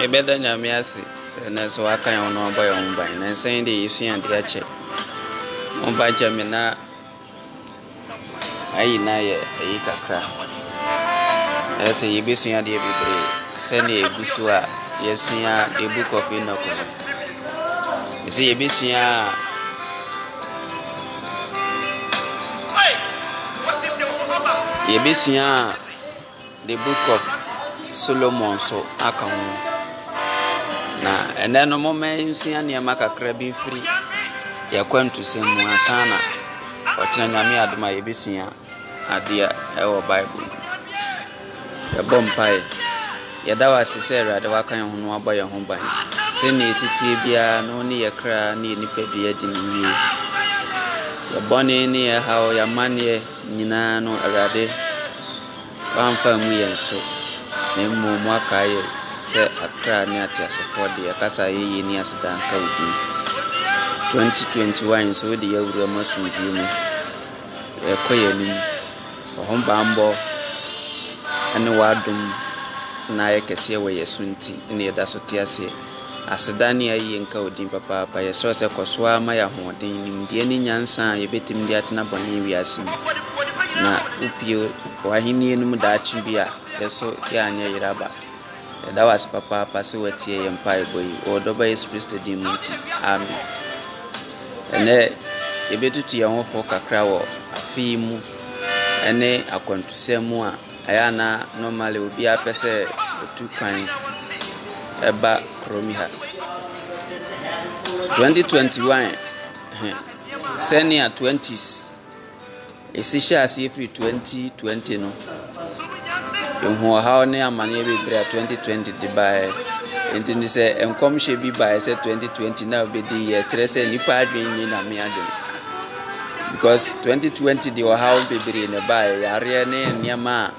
Yɛbɛda Nyame ase sɛ ɛnnɛ nso waka yɛn ho na wabɔ yɛn ho ban. Nansa yi deɛ yɛsua adeɛ akyɛ. Mo ba gya me na ayi na yɛ ayi kakra. Ɛyɛ sɛ yɛbɛsua adeɛ bebree sɛdeɛ ɛgu so a yɛsua the book of Enoch no. Ɛsɛ yɛbɛsua a yɛbɛsua a the book of Solomon so aka ho na ɛnɛ no moma nsua nneɛma kakra bi mfiri yɛkwantusɛm mu ansa na ɔkyena nyame adom a yɛbɛsua adeɛ ɛwɔ bible mu Yɛbɔ mpaeɛ. Yɛda wo ase sɛ Awurade waka yɛn ho na wabɔ yɛn ho ban. Sɛnea ɛsi teɛ biara na wo ne yɛ kra ne yɛ nipadua di no yie. Yɛ bɔne ne yɛ haw, yɛ amanneɛ nyinaa no Awurade wamfa mu yɛn so na mmom waka yɛ sɛ akra ne ateasefoɔ de yɛkasa yɛyie ne aseda nka wo din. 2021 nso wode yɛ awura mu asomdwie mu. Yɛkɔ yɛn anim. Wɔ hom bambɔ ne w'adom na ayɛ kɛseɛ wɔ yɛ so nti na yɛda so te aseɛ. Aseda ne ayie nka wo din papaapa. Yɛsrɛ sɛ kɔ so ara ma yɛ ahoɔden, nimdeɛ ne nyansa a yɛbɛtumi de atena bɔne wiase mu na wopue w'ahennie no mu daakye bi a yɛ so yɛanyɛ yera ba. Yɛda wo ase papaapa sɛ woatie yɛn mpaebɔ yi. Wɔ ɔdɔba Yesu Kristo din mu nti, amen. Ɛnɛ yɛbɛtutu yɛn ho fo kakra wɔ afe yi mu ne akwantusɛm mu a ɛyɛ ana normally obiara pɛ sɛ otu kwan ɛba kurom ha. 2021 sɛnea 20s Esi hyɛɛ aseɛ firi 2020 no, yɛhuu ɔhaw ne amaneɛ bebree a 2020 de baeɛ. Nti no sɛ nkɔmhyɛ bi baeɛ sɛ 2020 na wobɛdi yɛ kyerɛ sɛ nnipa adwene nyɛ nyame adwene. Because 2020 de ɔhaw bebree na ɛbaeɛ, yareɛ ne nneɛma a.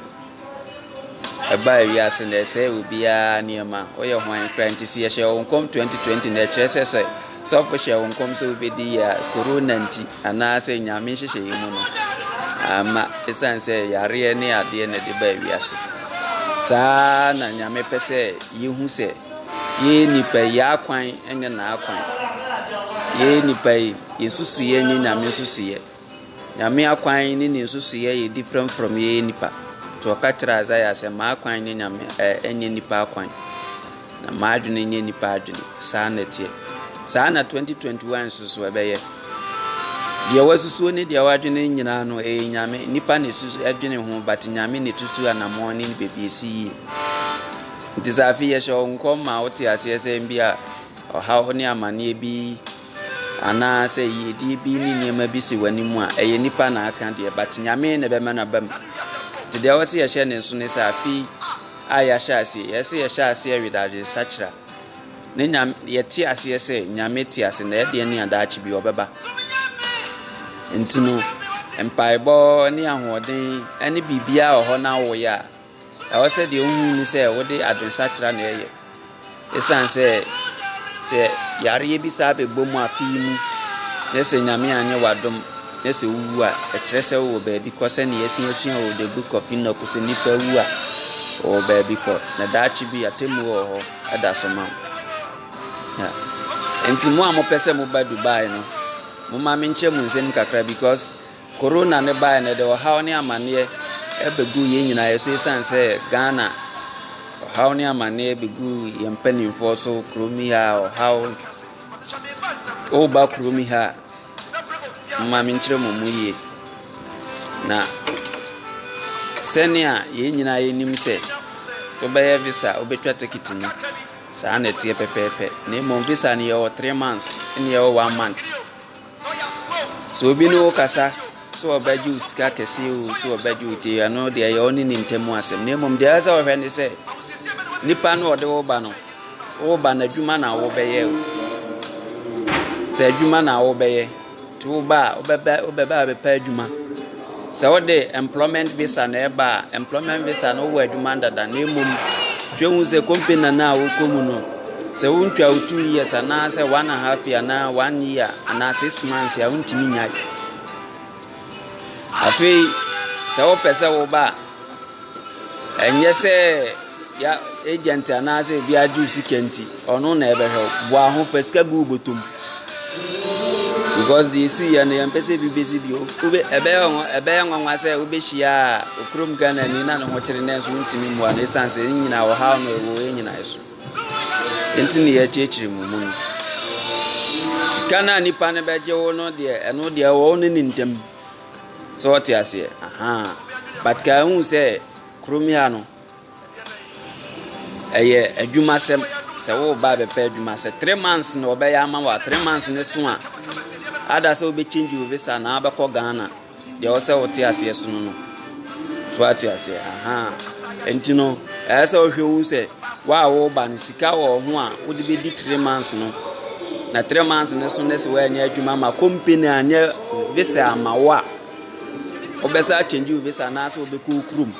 Ɛbaa wiase na ɛsɛe obiara nneɛma. Woyɛ hwan kura nti sɛ yɛhyɛ wo nkɔm 2020 na ɛkyerɛ sɛ sɛ sɔfo hyɛ wo nkɔm sɛ wobɛdi yɛ a korona nti anaasɛ nyame nhyehyɛeɛ mu no ama ɛsiane sɛ yareɛ ne adeɛ na ɛde baa wiase. Saa na nyame pɛ sɛ yɛhu sɛ yɛyɛ nipa yi akwan nyɛ n'akwan. Yɛyɛ nipa yi yɛsusu yɛ nyɛ nyame nsusu yɛ. Nyame akwan ne ne nsusuiɛ yɛ different from yɛyɛ nipa. Nti ɔka kyerɛ Isaiah sɛ m'akwan nyɛ Nyame ɛnyɛ nipa akwan. Na m'adwene nyɛ nipa adwene. Saa na ɛteɛ. Saa na 2021 nso so ɛbɛyɛ. Deɛ wasusuo ne deɛ wadwene nyinaa no ɛyɛ Nyame. Nipa na ɛsusu ɛdwene ho but Nyame na ɛtutu anamɔn ne baabi ɛsi yie. Nti sɛ afei yɛhyɛ wo nkɔm ma wote aseɛ sɛ bi a ɔhaw ne amanneɛ bi Anaa sɛ yiedie bi ne nneɛma bi si w'anim a, ɛyɛ nipa na aka deɛ, but nyame na ɛbɛma no aba mu. Nti deɛ ɛwɔ sɛ yɛhyɛ ne nso ne sɛ afei a yɛahyɛ aseɛ, yɛ sɛ yɛhyɛ aseɛ weda adesakyera. Ne nyame, yɛte aseɛ sɛ nyame te ase na ɛdeɛ ne adaakye bi ɔbɛba. Nti no, mpaebɔ ne ahoɔden ne biribiara wɔ hɔ na awoyɛ a, Ɛwɔ sɛ deɛ wohu ne sɛ wode adwensakyera na ɛyɛ. Ɛsiane sɛ sɛ yareɛ bi saa bɛbɔ mu afe yi mu na sɛ Nyame anyɛ w'adom na sɛ wowu a, ɛkyerɛ sɛ wowɔ baabi kɔ sɛnea yɛasuasua wɔ The Book of Enoch sɛ nnipa wu a wɔwɔ baabi kɔ na daakye bi atemmuo wɔ hɔ ɛda so ma wo. nti mo a mopɛ sɛ moba dubai no moma menkyɛ mu nsɛm kakra because Corona no baeɛ no ɛde ɔhaw ne amaneɛ ɛbɛgu yɛn nyinaa so ɛsiane sɛ Ghana ɔhaw ne amaneɛ bɛgu yɛn mpanimfoɔ so kurom yi ha ɔhaw woba kurom yi ha mma menkyerɛ mu mu yie na sɛnea yɛn nyinaa yɛnim sɛ wobɛyɛ visa wobɛtwa ticket no saa na ɛteɛ pɛpɛɛpɛ na mmom visa no yɛwɔ three months ne yɛwɔ one month Sɛ obi ne wo kasa sɛ ɔbɛgye wo sika kɛse o sɛ ɔbɛgye wo te ɛno deɛ ɛyɛ ɔne ne ntam asɛm na mmom deɛ ɛsɛ ɔhwɛ ne sɛ nipa no ɔde wo ba no wo ba no adwuma na wobɛyɛ o sɛ adwuma na wobɛyɛ nti wo ba a wobɛba wobɛba abɛpɛ adwuma. Sɛ wode employment visa na ɛba a, employment visa no wowɔ adwuma dada na mmom hwɛ hu sɛ company no a wokɔ mu no sɛ wontwa wo two years anaasɛ one and half year anaa one year anaa six months a wontumi nyae afei sɛ wopɛ sɛ woba a Ɛnyɛ sɛ ya agent anaasɛ obi agye wo sika nti, ɔno na ɛbɛhwɛ wo. Boa ho, fa sika gu wo bɔtɔ mu. Because deɛ ɛsi yɛ no, yɛmpɛ sɛ ebi bɛsi bio. Wobɛ ɛbɛyɛ nwa ɛbɛyɛ nwanwa sɛ wobɛhyia okurom Ghanani na ne ho kyere nanso wontumi mmoa no ɛsiane sɛ ne nyinaa ɔhaw no ɛwɔ yɛn nyinaa so. Nti ne yɛkyerɛkyerɛ mu mu no. Sika no a nipa no bɛgye wo no deɛ, ɛno deɛ ɛwɔ wo ne ne ntam. So ɔte aseɛ? Ahaa. But kaa hu sɛ kurom ha no, ɛyɛ adwuma sɛm sɛ woba bɛpɛ adwuma sɛ three months na ɔbɛyɛ ama wa three months ne so a ada sɛ wobɛkyingye wo visa na abɛkɔ ghana deɛ ɔsɛ wote aseɛ so no no So wate aseɛ? Ahaa. Nti no, ɛyɛ sɛ wohwɛ hu sɛ wo a woba no sika wɔ ho a wode bɛdi three months no na three months no so ne sɛ woanyɛ adwuma ma company anyɛ visa ama wo a wobɛsa akyɛngye wo visa anaasɛ wobɛkɔ wo kurom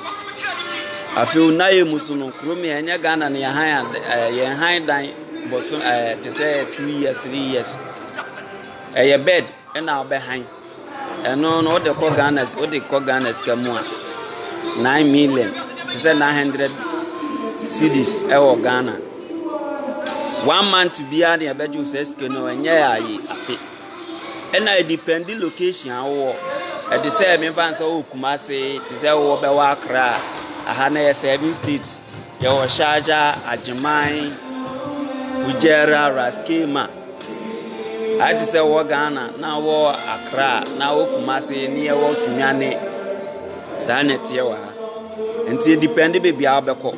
afei wo nayɛ mu so no kurom yɛ ɛnyɛ ghana no yɛn han eh, yɛn han dan bɔso eh, te sɛ two years three years ɛyɛ bed Ɛna ɔbɛ han ɛno no wode kɔ Ghana wode kɔ Ghana sika mu a nine million te sɛ nine hundred cedis ɛwɔ Ghana one month biara ne ɛbɛgye wo sɛ sika no ɛnyɛ ayi afe ɛna ɛdipɛndi location a wowɔ ɛde sɛ mefa nsɛ wɔ Kumase te sɛ wowɔ bɛwɔ Accra aha na yɛ seven states yɛwɔ Sharjah Agyeman Fujairah Raskema Ayɛ te sɛ wɔ Ghana na wɔ Accra na wɔ Kumasi ne yɛwɔ Sunyani. Saa na ɛteɛ wɔ ha. Nti edepɛnde baabi a wobɛkɔ.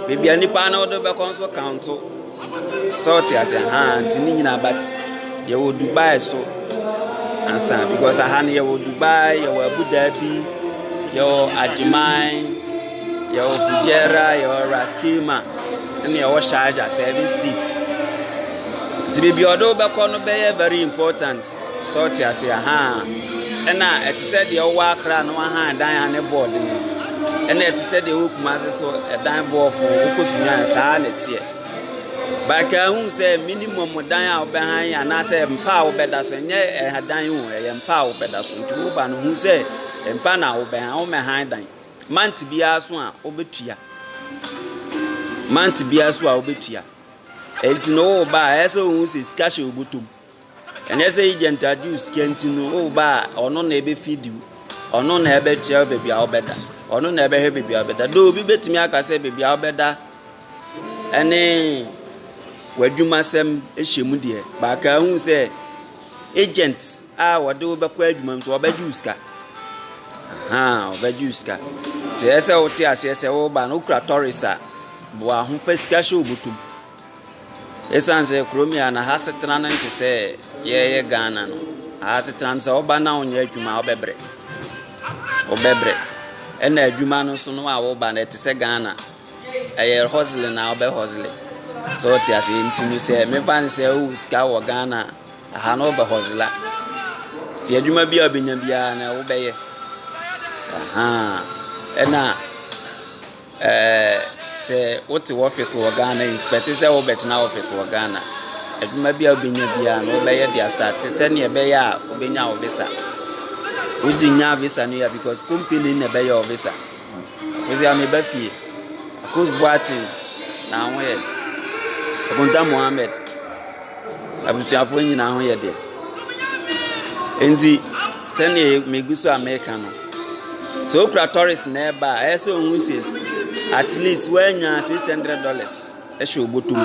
Baabi a nipa no wode bɛkɔ nso kaonto. Sɛ wote aseɛ? Ahaa nti ne nyinaa but yɛwɔ Dubai nso ansa because aha no yɛwɔ Dubai, yɛwɔ Abu Dhabi, yɛwɔ Agyeman. Yɛwɔ Fujairah, yɛwɔ Ras Qima, ɛna yɛwɔ Sharjah, seven states. Nti baabi a ɔde wobɛkɔ no bɛyɛ very important sɛ ɔte ase aha. Ɛna ɛte sɛ deɛ ɔwɔ akra no aha dan a ne bɔɔ den. Ɛna ɛte sɛ deɛ ɔwɔ kumase so ɛdan bɔɔfo wokɔ sunya saa na ɛteɛ. Baaka ahu sɛ minimum dan a wobɛhan anaasɛ mpa a wobɛda so ɛnyɛ ɛdan o ɛyɛ mpa a wobɛda so nti woba no hu sɛ mpa na wobɛhan womɛhan dan. Month biara so a wobetua. Month biara so a wobetua. Enti no wo ba a ɛyɛ sɛ ohun sɛ sika hyɛ obotom. Ɛnyɛ sɛ agent agye wo sika nti no wo ba a ɔno na ebefi diw. Ɔno na ɛbɛkyerɛ baabi a wobɛda. Ɔno na ɛbɛhwɛ baabi a wobɛda. Do obi betumi aka sɛ baabi a wobɛda ɛne w'adwumasɛm hyɛ mu deɛ, baaka ahu sɛ agent a wɔde wo bɛkɔ adwuma mu so wɔbɛgye wo sika ahan wɔbɛgye wo sika te yɛ sɛ wote aseɛ sɛ woba no wokura tɔres a boa ho fa sika hyɛ obotom ɛsiane sɛ kurom yɛ na ha setena no nte sɛ yɛyɛ ghana no ha setena no sɛ woba na wonyɛ adwuma a wobɛbrɛ wobɛbrɛ ɛna adwuma no so no a woba no ɛte sɛ ghana ɛyɛ hosle na wobɛ hosle sɛ wote aseɛ nti no sɛ mefa no sɛ wowo sika wɔ ghana a Aha no ɔbɛ hɔzela. Nti adwuma bi a ɔbɛnya biara no wobɛyɛ. Aha. Ɛna ɛɛ sɛ wote wɔfis wɔ Ghana yi spɛte sɛ wobɛtena wɔfis wɔ Ghana. Adwuma bi a wobɛnya biara no wobɛyɛ de astate sɛnea ɛbɛyɛ a wobɛnya wo visa. Wogye nya visa no yɛ because company na ɛbɛyɛ wo visa. Mese a meba fie. Akos Boateng na ho yɛ den. Akonta Mohammed. Abusuafoɔ nyinaa ho yɛ den. Nti sɛdeɛ megu so a meka no, sɛ okura tɔres na ɛba a, ɛyɛ sɛ ohun sis at least woanya six hundred dollars ɛhyɛ obotom.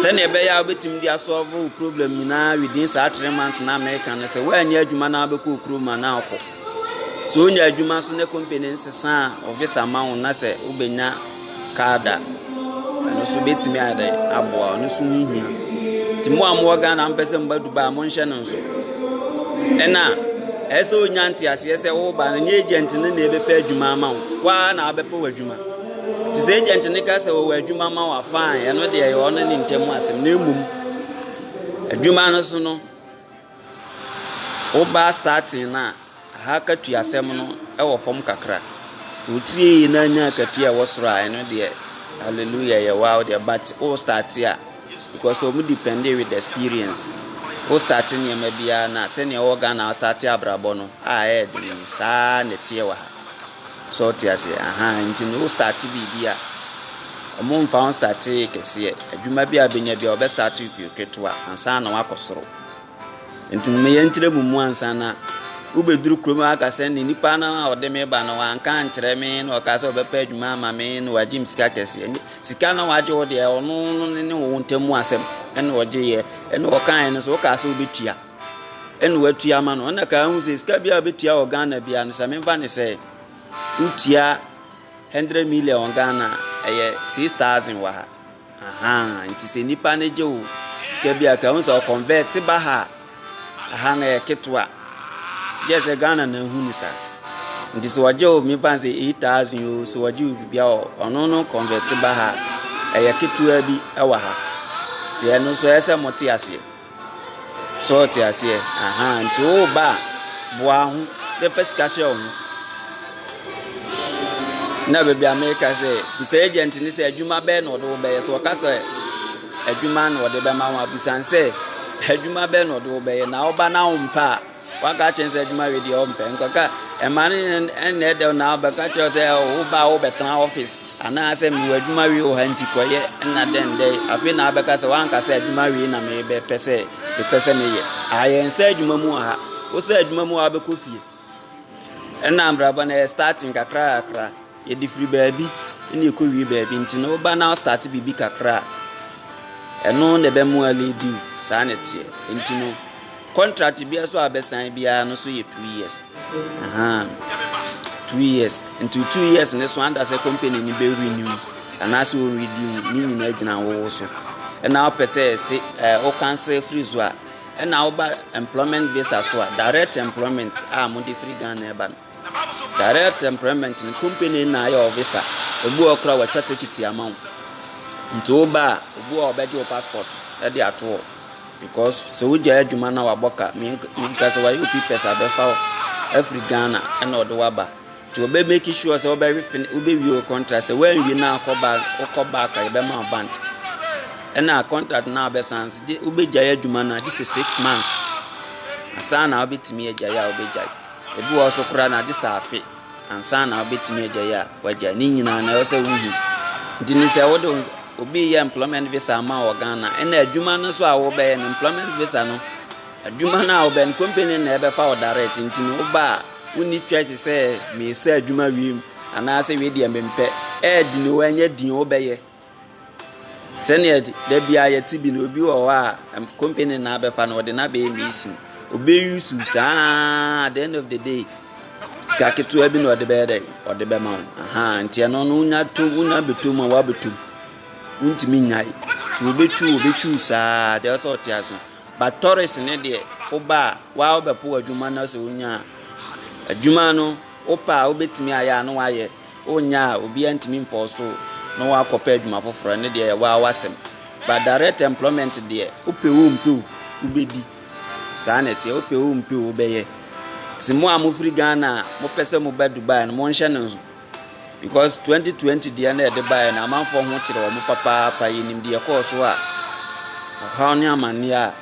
Sɛdeɛ ɛbɛyɛ a wobɛtumi de asɔlvo problem nyinaa within saa three months na meka no sɛ woanya adwuma na wobɛkɔ okurom a na akɔ. Sɛ onya adwuma so ne company nsesa a, ɔvisa ma wo na sɛ wobɛnya card a, ɛno nso bɛtumi ayɛ aboa ɔno nso ho hia. Nti mo a mowɔ Ghana mpɛ sɛ mba Dubai a, monhyɛ no nso. Ɛna ɛyɛ sɛ onya nteaseɛ sɛ woba no, nyɛ agent no na ɛbɛpɛ adwuma ama wo, waa na abɛpɛ wɔ adwuma. Nti sɛ agent no ka sɛ wɔwɔ adwuma ma wa fine, ɛno deɛ ɛyɛ ɔno ne ntam asɛm na mmom adwuma no so no, Woba starting no a, aha akatuasɛm no wɔ fam kakra. Sɛ wo tiri yɛ yie na anya akatua a ɛwɔ soro a, ɛno deɛ, hallelujah, ɛyɛ wo ara wo deɛ. But wo start a, because wɔn depend with experience. Wo start nneɛma biara na sɛnea ɛwɔ Ghana wo start abrabɔ no a ɛyɛ den no, saa na ɛteɛ wɔ ha. So ɔte aseɛ, aha nti no wo start biribi a, wɔn mfa ho start kɛseɛ. Adwuma bi a bɛnya bi a wɔbɛ start with ketewa ansa na wakɔ soro. Enti no meyɛ nkyerɛ mo mu ansa na wobɛduru kurom a aka sɛ ne nipa no a ɔde me ba no wanka ankyerɛ me na ɔka sɛ ɔbɛpɛ adwuma ama me na wagye me sika kɛseɛ ne sika na wagye wo deɛ ɔno no ne ne wo ntam mu asɛm ɛna ɔgyeeɛ ɛna ɔkaeɛ no sɛ wokaa sɛ wobɛtua ɛna watua ama no ɔna kaa ho sɛ sika bi a wobɛtua wɔ Ghana bia no sɛ memfa ne sɛ wotua 100 million Ghana ɛyɛ 6000 wɔ ha Ahaa nti sɛ nipa no gye wo sika bi a ka sɛ ɔkɔnvɛt ba ha aha na yɛ ketewa gyɛ sɛ ghana na ehu ni sa nti sɛ ɔgye wo mi fan sɛ eight thousand yoo sɛ ɔgye wo bibi a ɔno no kɔnvɛt ba ha ɛyɛ ketewa bi ɛwɔ ha te ɛno so ɛsɛ mo te aseɛ. So ɔtse aseɛ? Ahaa, ntsi wo ba a, boa ho na fa sika hyɛ wo ho. Nna beebi a mereka sɛ, bisa agent no sɛ adwuma bɛn na ɔde wo bɛyɛ. Sɛ ɔka sɛ adwuma na ɔde bɛma wo a, bisa no sɛ adwuma bɛn na ɔde wo bɛyɛ. Na wo ba no a ɔmmpɛ a, waka akyerɛ no sɛ adwuma wei deɛ ɔmmpɛ. Nkɔka ɛma no nn ɛnnɛ da na ɔbɛka kyerɛ wo sɛ wo ba a wobɛtena office. Anaasɛ mewɔ adwuma wei wɔ ha nti kɔyɛ na dɛn dɛn afei na abɛka sɛ wanka sɛ adwuma wei na mebɛpɛ sɛ mepɛ sɛ meyɛ ayɛ nsɛ adwuma mu wɔ ha wosɛ adwuma mu wabɛkɔ fie ɛna mbrabɔ na yɛ starting kakra kakra yɛde firi baabi ɛna ɛkɔ wie baabi nti na woba na start biribi kakra ɛno na ɛbɛmoa lady saa na ɛteɛ nti no Contract biara so a bɛsan biara no so yɛ two years. Ahaa. Two years. Nti two years ne so anda sɛ company ni bɛ renew anaasɛ o renew ne nyinaa gyina wowo so. Ɛna wopɛ sɛ ɛse ɛɛ o cancel firi so a ɛna woba employment visa so a direct employment a mo de firi Ghana ɛba no. Direct employment no company na ayɛ ɔvisa ebi wɔ kora wɔatwa tekiti ama wo nti woba a obi wɔ ɔbɛgye wo passport de ato hɔ because sɛ wogya adwuma na wabɔ ka menka sɛ wayɛ opi pɛ sɛ abɛfa wo afiri ghana ɛna ɔde waba nti wɔbɛ make sure sɛ wobɛwe fin wobɛwie wo contract sɛ woanwie no akɔ back wokɔ back a yɛbɛma wo band ɛna contract no a wobɛsan so wobɛgyae adwuma no a gye sɛ six months asan na wobɛtumi agyae a wobɛgyae Ebi wɔ hɔ nso koraa na agye sɛ afe ansa na wobɛtumi agyae a wagyae. Ne nyinaa na ɛwɔ sɛ wohu. Nti ne sɛ wode obi yɛ employment visa ama wɔ Ghana ɛna adwuma no nso a wobɛyɛ no employment visa no adwuma no a wobɛyɛ no company na ɛbɛfa wo direct nti no woba a wonni choice sɛ meyɛ sɛ adwuma wiem anaasɛ wei deɛ mempɛ ɛɛdi ne wɔ ɛnyɛ din wobɛyɛ Sɛdeɛ da biara yɛte bi no, obi wɔ hɔ a ɛm company na abɛfa no ɔde no abɛyɛ mesin. Obi use wo saa ara at the end of the day sika ketewa bi na ɔde bɛyɛ dɛ ɔde bɛma wo ahan nti ɛno no wonya to wonya bɛtɔ mu a woabɛtɔ mu wontumi nyae nti obetwi wo obetwi wo saa deɛ ɔsɛ ɔte ase but tɔres ne deɛ woba a waa wobɛpo adwuma no sɛ wonya adwuma no wopɛ a wobɛtumi ayɛ a na wayɛ. Wonya a, obiara ntumi mfa wo so na woakɔpɛ adwuma foforɔ, ɛno deɛ ɛyɛ waa w'asɛm. But direct employment deɛ, wopɛ wo mpɛ wo, wobɛdi. Saa na ɛteɛ, wopɛ wo mpɛ wo, wobɛyɛ. Nti mo a mofiri Ghana a mopɛ sɛ moba Dubai no, monhyɛ no nso. Because 2020 deɛ na ɛde baeɛ no, amanfoɔ ho kyerɛ wɔn papaapa, yɛnim deɛ ɛkɔɔ so a, ɔhaw ne amanneɛ a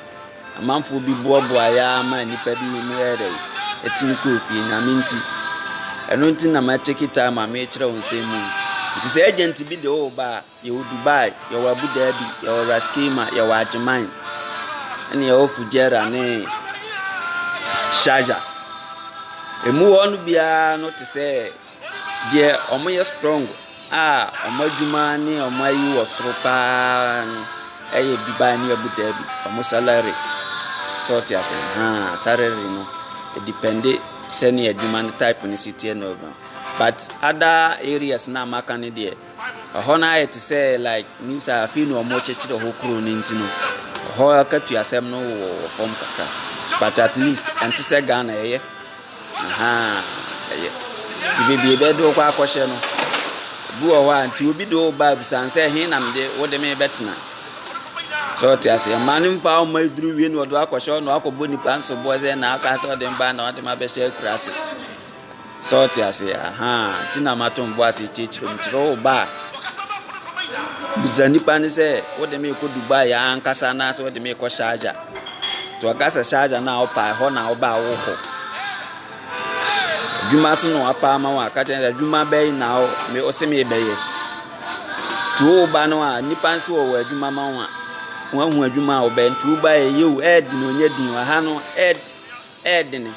Amanfoɔ bi boaboaeɛ ara maa nnipa bi mu yɛɛ dɛ, ɛtumi kɔɔ fie, Nyame nti. Ɛno nti na ma take time ma merekyerɛ wo nsɛm mu yi. Nti sɛ agent bi de wo ba a, yɛwɔ Dubai, yɛwɔ Abu Dhabi, yɛwɔ Ras Kema, yɛwɔ Agyeman, ɛne yɛwɔ Fujairah ne Sharjah. Ɛmu hɔ no biara no te sɛ Deɛ wɔyɛ strong a wɔn adwuma ne wɔn ayi wɔ soro pa ara no yɛ Dubai ne Abu Dhabi, wɔn salary. So wote aseɛ? Ahaa, salary no, ɛdepɛnde sɛdeɛ adwuma no type no si teɛ na ɔdɔn. But other areas no a maka no deɛ, ɛhɔ no ayɛ te sɛ like nim sɛ afei na wɔrekyekyere hɔ kuro no nti no, ɛhɔ akatua asɛm no wɔ fam kakra. But at least ɛnte sɛ Ghana ɛyɛ. Nti baabi ɛbɛde wokɔ akɔhyɛ no bi wɔ hɔ a nti obi de wo ba abisan sɛ ɛhe na mede wo de me bɛtena sɛ ɔte ase ɛma no mfa ɔma aduru wie na ɔde wakɔhyɛ ɔno akɔbɔ nipa nso boɔ sɛ na aka sɛ ɔde mba na ɔde ma bɛhyɛ akura ase sɛ ɔte ase ahaa ti na ma to mbo ase kyerɛkyerɛ mu kyerɛ wo ba bisa nipa ne sɛ wode me kɔ Dubai ankasa anaasɛ wode me kɔ Sharjah Nti ɔka sɛ sharja no a wopɛ a ɛhɔ na wobɛ a wokɔ adwuma so na wapɛ ama wo a ka kyerɛ sɛ adwuma bɛyi na ɔse mebɛyɛ nti woba no a nnipa nso wɔ wɔ adwuma ma wo a woahu adwuma a wobɛyɛ nti woba ɛyɛ o ɛyɛ den onyɛ den wɔ ha no ɛyɛ Ɛyɛ den.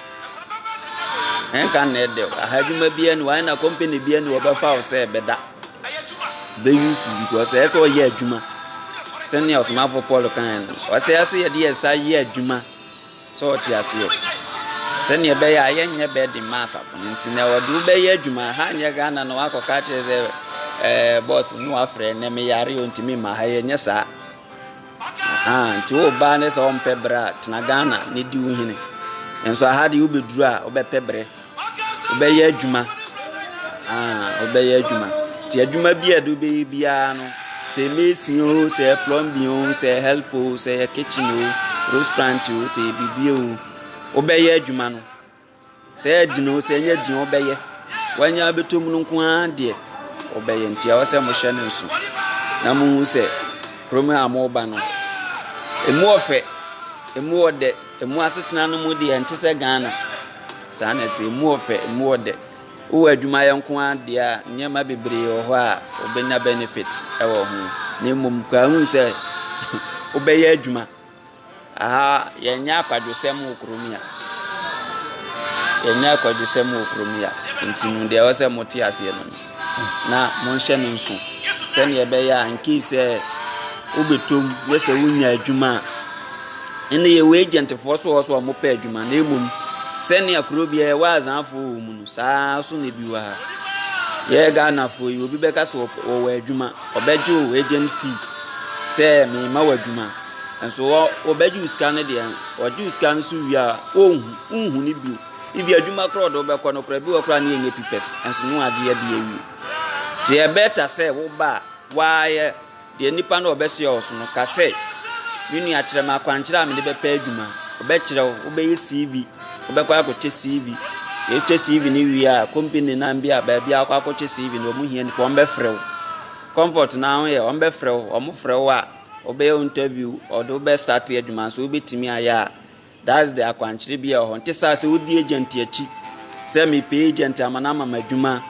Ɛnka nnɛ ɛdɛ o. Aha adwuma biara ni wɔn na company biara ni wɔbɛfa wo sɛ ɛbɛda. Bɛyi su because ɛyɛ sɛ ɔyɛ adwuma. Sɛnea ɔsomafo Paul kan no, ɔsɛ ɛyɛ sɛ yɛde yɛn nsa yɛ adwuma sɛ ɔte aseɛ. Sɛnea ɛbɛyɛ a yɛnyɛ bɛɛ de ma asafo no nti na wɔde wo bɛyɛ adwuma. Ha nyɛ Ghana na wakɔka akyerɛ sɛ ɛɛ bɔs no wafrɛ na meyare o ntumi ma ha yɛnyɛ saa. Ahaa nti wo baa ne sɛ ɔmpɛ berɛ a tena Ghana ne di wo hene nso aha deɛ wobɛduru a wobɛpɛ berɛ wobɛyɛ adwuma ahaa wobɛyɛ adwuma nti adwuma bi a ɛde wobɛyɛ biara no sɛ mesi o sɛ plumbing o sɛ help o sɛ kitchen o restaurant o sɛ biribi o wobɛyɛ adwuma no Sɛ ɛyɛ den o, sɛ ɛnyɛ den o, ɔbɛyɛ. Wanya abɛtɔ mu no nko ara deɛ ɔbɛyɛ. Nti ɛwɔ sɛ mohyɛ no nso na mohu sɛ kurom a moba no, ɛmu ɔfɛ, ɛmu ɔdɛ, ɛmu asetena no mu deɛ ɛnte sɛ Ghana. Saa na ɛte, ɛmu ɔfɛ, ɛmu ɔdɛ. Wowɔ adwumayɛ nko ara deɛ a, nneɛma bebree wɔ hɔ a wobɛnya benefit wɔ ho. Na mmom, kora hu sɛ wobɛyɛ adwuma. Aha yɛnyɛ akwadwosɛm wɔ kurom yi a. Yɛnyɛ akwadwosɛm wɔ kurom yi a. Nti no deɛ ɛwɔ sɛ mote aseɛ no no. Na monhyɛ no nso sɛdeɛ ɛbɛyɛ a nkii sɛ wobɛtom ne sɛ wonya adwuma a ɛnna yɛwɔ agentfoɔ so wɔ so a wɔpɛ adwuma na mmom sɛnea kuro biara ɛwɔ azanfoɔ wɔ mu no saa so na ebi wɔ ha yɛyɛ ghanafoɔ yi obi bɛka sɛ wɔwɔ adwuma ɔbɛgye wo agent fee sɛ mema wɔ adwuma Nanso hɔ wɔbɛgye wo sika no deɛ, wɔgye wo sika no so wie a, wonhu wonhu no bio. Ebi adwuma koraa ɔde wobɛkɔ no koraa bi wɔ koraa ne ɛnyɛ pipɛs nanso ne wagye adi awie. Nti ɛbɛta sɛ woba a woayɛ deɛ nipa no a ɔbɛsoɛ wo so no ka sɛ me nua kyerɛ me akwankyerɛ a mede bɛpɛ adwuma. Ɔbɛkyerɛ wo, wobɛyɛ CV, wobɛkɔ akɔkyɛ CV. Yɛkyɛ CV no wie a, company nan bi a baabi a wokɔ akɔkyɛ CV no wɔn hia nipa wɔn bɛfrɛ wo. Comfort no ara ho yɛ wɔn bɛfrɛ wo, wɔn frɛ wo a Wɔbɛyɛ wo interview, wɔde wo bɛ start adwuma nso wobɛtumi ayɛ a that's the akwankyerɛ bi a ɛwɔ hɔ. Nte saa sɛ wodi agent akyi sɛ mepɛ agent ama no ama m'adwuma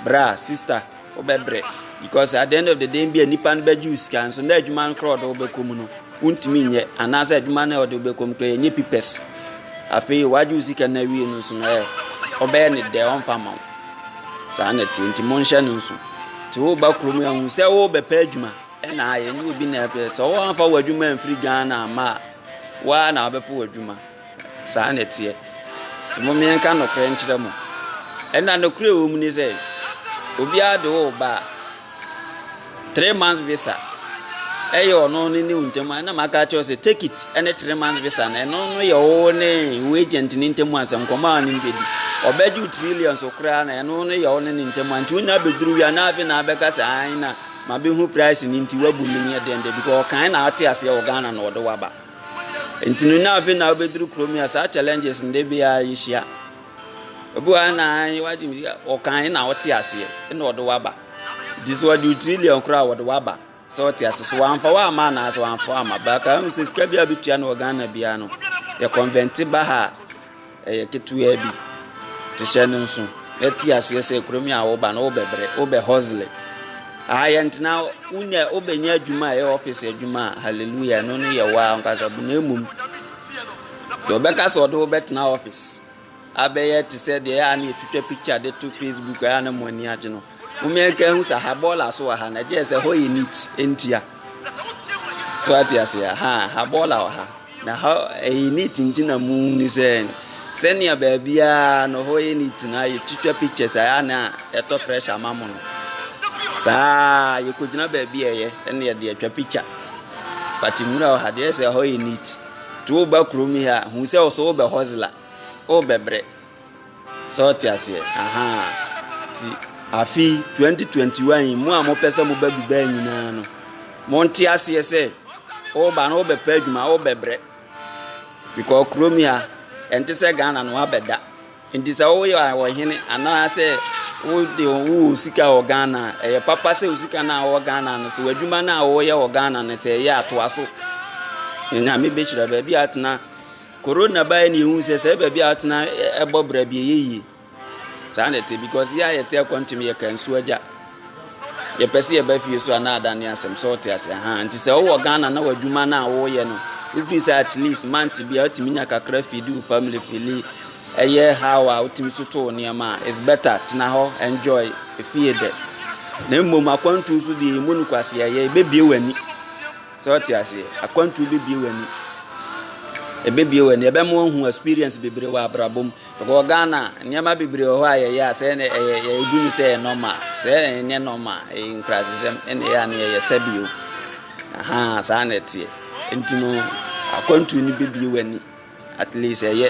bra sister wobɛbrɛ because at the end of the day bi a nipa no bɛgye wo sika nso na adwuma no korɔ ɔde wobɛkɔ mu no wontumi nyɛ anaasɛ adwuma no ɔde wobɛkɔ mu korɔ yɛnyɛ pipɛs afei wagye wo sika no awie no so no ɛ ɔbɛyɛ ne dɛ ɔmfa ma wo saa na ɛte nti monhyɛ no nso nti woba kurom ahu sɛ wobɛpɛ adwuma Ɛna ayɛ ɛnyɛ obi na ɛpɛ sɛ wɔamfa w'adwuma amfiri Ghana ama a waa na wabɛpo w'adwuma saa na ɛteɛ nti mo mmiɛnka nokorɛ nkyerɛ mo ɛna nokorɛ wɔ mu ne sɛ obiara de wo ba three months visa ɛyɛ ɔno ne ne ntam ɛna maka kyerɛ sɛ take it ɛne three months visa no ɛno no yɛ wo ne wo agent ne ntam asɛm nkɔmɔ a ne bɛdi ɔbɛgye trillions koraa na ɛno no yɛ wo ne ne ntam nti wonya bɛduru wia na afei na abɛka sɛ ae na Mabehu price no nti wabu me neɛ dɛn da bi kɔ ɔkan na ate aseɛ wɔ Ghana na ɔde waba nti no na afei na wobɛduru kurom yi a saa challenges no de biara yɛhyia obi wɔ na wagye me sika ɔkan na ɔte aseɛ na ɔde waba nti sɛ ɔde wo trillion koraa wɔde waba sɛ ɔte ase so wamfa wo ama anaa sɛ wamfa wo ama baka hu sɛ sika bi a bɛtua no wɔ Ghana biara no yɛ convente ba ha a Ɛyɛ ketewaa bi te hyɛ no nso na te aseɛ sɛ kurom yi a woba no wobɛbrɛ wobɛ hustle aha yɛ ntena wonya wobɛnya adwuma a ɛyɛ office adwuma a hallelujah ɛno no yɛ waa nkasa bu na mmom deɛ wobɛka sɛ ɔde wobɛtena office abɛyɛ te sɛ deɛ ɛyɛ a na ɛtwitwa picture de to facebook ɛyɛ a na mo ani agye no Momea nka ehu sɛ ha bɔɔla so wɔ ha na ɛgye sɛ hɔ yɛ neat ntia. So ate ase a ha ha bɔɔla wɔ ha na ha ɛyɛ neat nti na mu ni sɛ sɛnea baabiara no hɔ yɛ neat na ayɛ twitwa pictures a na ɛtɔ pressure ma mo no. Saa yɛkɔgyina baabi a ɛyɛ ɛna yɛde atwa picture. But nwura wɔ ha deɛ sɛ hɔ yɛ neat. To wo ba kurom yi a hu sɛ ɔsɛ wobɛ hustler wobɛbrɛ. Sɛ wo te aseɛ ahaa ti. Afi twenty twenty one yi mu a mo pɛ sɛ mo ba Dubai nyinaa no mo nte aseɛ sɛ ɔba no ɔbɛ pɛ adwuma ɔbɛ brɛ because kurom yi a ɛnte sɛ Ghana no abɛ da nti sɛ ɔyɛ ɔhene anaasɛ wode wo sika wɔ Ghana ɛyɛ papa sɛ wo sika no a wɔ Ghana no sɛ w'adwuma no a wɔyɛ wɔ Ghana no sɛ ɛyɛ atoa so nyame bɛhyira baabi atena. Corona baeɛ na yɛhu sɛ sɛ baabi a atena ɛbɔ bra bi ɛyɛ yie saa na ɛte because yɛ a yɛte akwantam yɛ ka nsuo agya yɛpɛ sɛ yɛba fie so a na adane asɛm sɛ ɔte ase ha nti sɛ wowɔ Ghana na w'adwuma no a woyɛ no wofiri sɛ at least month bi a wotumi nya kakra fidi wo family fili ɛyɛ how a wotumi so too nneɛma a is better tena hɔ enjoy efie dɛ na mmom akwantuo so deɛ ɛmu no kwase ɛyɛ ɛbɛbie w'ani Sɛ wote aseɛ, akwantuo bɛbie w'ani. Ɛbɛbie w'ani, ɛbɛma woahu experience bebree wɔ abrabɔ mu. Because Ghana, nneɛma bebree wɔ hɔ a yɛyɛ a sɛ ɛnɛ ɛyɛ yɛgu no sɛ ɛyɛ normal. Sɛ ɛnyɛ normal, ɛyɛ nkurasesɛm, ɛna ɛyɛ a na yɛyɛ sɛbio. Ahaa, saa na ɛteɛ. Nti no, akwantuo no bɛbie w'ani. At least ɛyɛ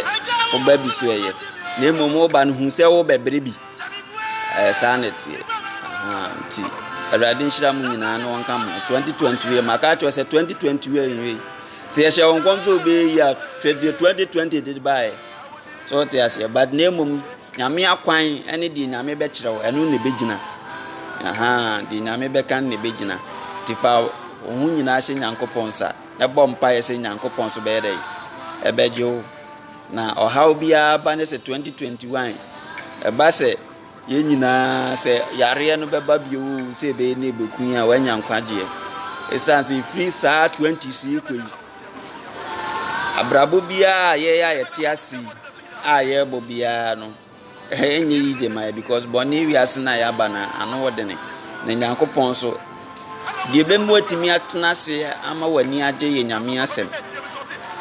wo ba bi so ɛyɛ na mmom wo ba no hu sɛ wo bɛbrɛ bi ɛyɛ saa na ɛteɛ nti awurade nhyira mu nyinaa na wɔnka mu 2020 wie maka akyerɛ sɛ 2020 wie nwie sɛ yɛhyɛ wɔn nkɔm sɛ obɛyi a 2020 de baeɛ sɛ wote aseɛ but na mmom nyame akwan ɛne deɛ nyame bɛkyerɛ wo ɛno na ɛbɛgyina aha deɛ nyame bɛka na ɛbɛgyina nti fa wo ho nyinaa hyɛ nyankopɔn nsa na bɔ mpaeɛ sɛ Nyankopɔn so bɛyɛ dɛn? Ɛbɛgye wo. Na ɔhaw biara ba ne sɛ 2021 ɛba sɛ yɛn nyinaa sɛ yareɛ no bɛba bio sɛ ɛbɛyɛ ne ɛbɛku yɛn a wanya nkwagyeɛ. Ɛsiane sɛ ɛfiri saa 20 si kɔ yi abrabɔ biara a yɛyɛ a yɛte ase a yɛrebɔ biara no Ɛnyɛ yize ma yɛ because bɔne wiase no a yɛaba no ano wɔ dene. Na Nyankopɔn nso, deɛ ɛbɛmu atumi atena ase ama w'ani agye yɛ Nyame asɛm.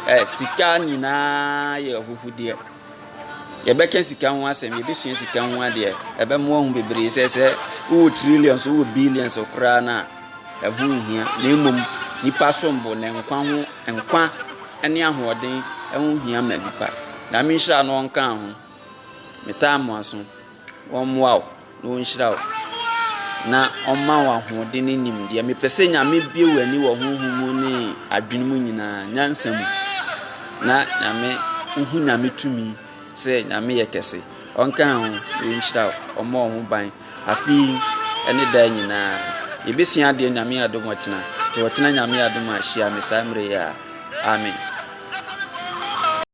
Ɛ sika nyinaa yɛ ahuhudeɛ. Yɛbɛka sika ho asɛm, yɛbɛsua sika ho adeɛ. Ɛbɛmoa ho bebree sɛ sɛ wowɔ trillions, wowɔ billions koraa no a, ɛho nhia, na mmom nnipa som bo na nkwa ho nkwa ne ahoɔden ɛho hia ma nnipa. Nyame nhyira na ɔnka ho. Metaa mo aso. Wɔmmoa wo na wɔnhyira wo na ɔma wo ahoɔden ne nimdeɛ. Mepɛ sɛ Nyame bie w'ani wɔ honhom mu ne adwene mu nyinaa, nyansa mu na Nyame wohu Nyame tumi. sɛ Nyame yɛ kɛse, ɔnkaa ho, na ɔnhyira wo, ɔmmɔ wo ho ban, afe yi ne daa nyinaa. Yɛbɛsua adeɛ Nyame yɛ adom ɔkyena, nti ɔkyena Nyame yɛ adom a hyia me saa mmerɛ yi a. Amen.